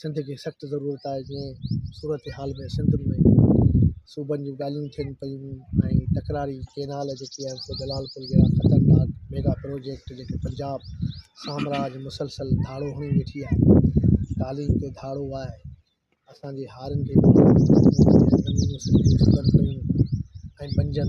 سنڌ کي سخت ضرورت آهي جيئن صورتحال ۾ سنڌ ۾ صوبن جون ڳالهيون ٿين پيون ۽ تڪراري ڪينال جيڪي آهن سو جلال پور جهڙا خطرناڪ ميگا پروجيڪٽ جيڪي پنجاب سامراج مسلسل ڌاڙو هڻي ويٺي آهي تعليم تي ڌاڙو آهي اسانجي هارين کي ۽ بنجن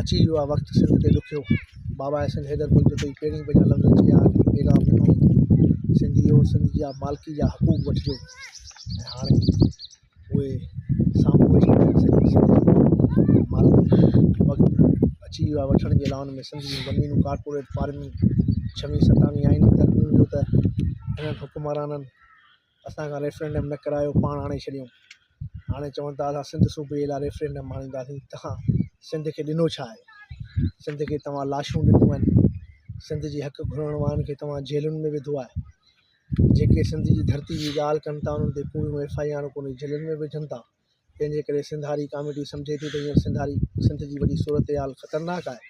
اچي ويو آهي وقت سنڌ کي ڏکيو بابا احسن حيدر ڀل جي پهرين ڀيرا لفظ چيا آهن پيغام ڏنو سنڌي او سنڌ جا مالڪي جا حقوق وٺجو ۽ هاڻي اهي سامهون اچي ويا آهن سڄي سنڌ جي مالڪي وقت اچي ويو آهي وٺڻ جي لاء ان ۾ سنڌ جون زمينون ڪارپوريٽ فارمنگ ڇوهين ستاويهين آئيني ترميم جو ته هنن حڪمرانن اسان کان ريفرينڊم نه ڪرايو پاڻ آڻي ڇڏيون هاڻي چون ٿا اسان سنڌ صوبي لاء ريفرينڊم آڻينداسين تها سنڌ کي ڏنو ڇا آهي سنڌ کي توهان لاشون ڏنيون آهن سنڌ جي حق گهرڻ وارن کي توهان جيلن ۾ وڌو آهي جيڪي سنڌ جي ڌرتي جي ڳالهه ڪن ٿا انهن تي ڪوڙيون ايف آئي آرون ڪري جيلن ۾ وجهن ٿا تنهنجي ڪري سنڌاري ڪاميڊي سمجهي ٿي ته هينئر سنڌاري سنڌ جي وڏي صورتحال خطرناڪ آهي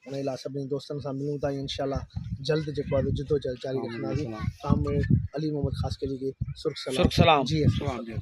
ان لاء سڀني دوستن سان ملون ٿا ۽ انشاء الله جلد جيڪو آهي جدوجهد جاري رکنداسين ڪامريڊ علي محمد خاصخيلي کي سرخ سلام جي ايس ايم